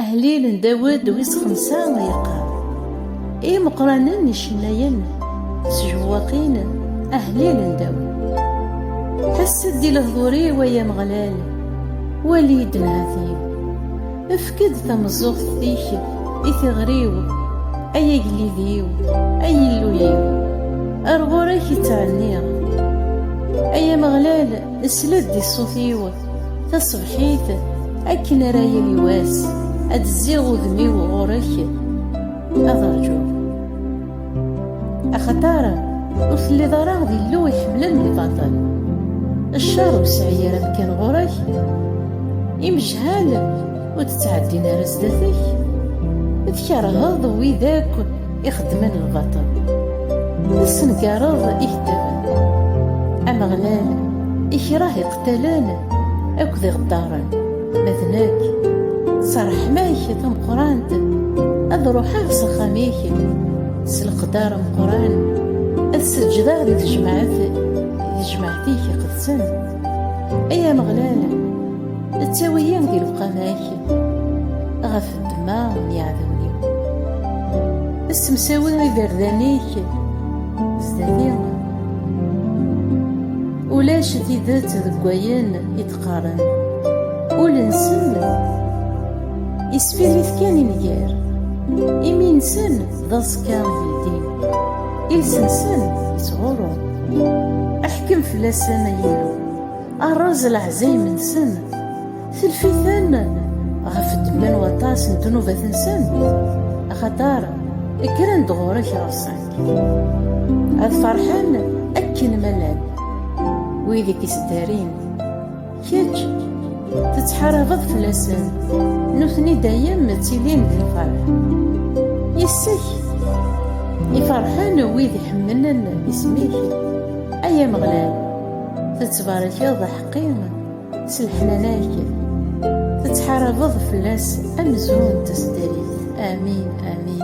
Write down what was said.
Ahlil n Dawed wis xemsa yeqqar. Imeqranen n icennayen s jewwaqin ahlil n Dawed. Tassa-d di lehdur-iw ay Ameɣlal, wali-d nnhati-w. Efk-d tameẓẓuɣt-ik i tiɣri-w, ay agellid-iw, ay Illu-iw. Ar ɣur-k i ttɛenniɣ. Ay Ameɣlal, sel-d i ṣṣut-iw. Tasebḥit akken ara yili wass ad zziɣ udem-iw ɣur-k ad rǧuɣ axaṭar ur telliḍ ara d Illu iḥemmlen lbaṭel ccer ur sɛi ara amkan ɣur-k imejhal ur d-ttɛeddin ara sdat-k tkerheḍ wid akk Ixeddmen lbaṭel tessengareḍ ikeddaben. Ameɣlal ikreh iqtalen akked iɣeddaren, ma d nekk s ṛṛeḥma-k tameqqrant ad ruḥeɣ s axxam-ik s leqder ameqqran ad seǧǧdeɣ di tejmaɛt di tejmaɛt-ik iqedsen ay Ameɣlal ttawi-yi di lewqama-k ddemma n yiɛdawen-iw. Ssemsawi iberdan-ik sdat-i. Ulac tidet deg wayen i d-qqaren. Ul-nsen isfirrit kan i nnger. Imi-nsen d aẓekka yeldin. Iles-nsen yettɣurru. Ḥkem fell-asen, ay Illu. Rreẓ leɛzayem-nsen. Telfiten ɣef ddemma n waṭas n ddnubat-nsen, axaṭer kkren-d ɣur-k ɣer-sen. Ad ferḥen akken ma llan wid i k-ittdarin. Kečč tettḥarabeḍ fell-asen, nutni dayem ttilin di lferḥ. Yes-k i ferḥen wid iḥemmlen isem-ik, ay Ameɣlal, tettbarekeḍ aḥeqqi. S leḥnana-k tettḥarabeḍ fell-as amzun d tasdarit. Amin, amin.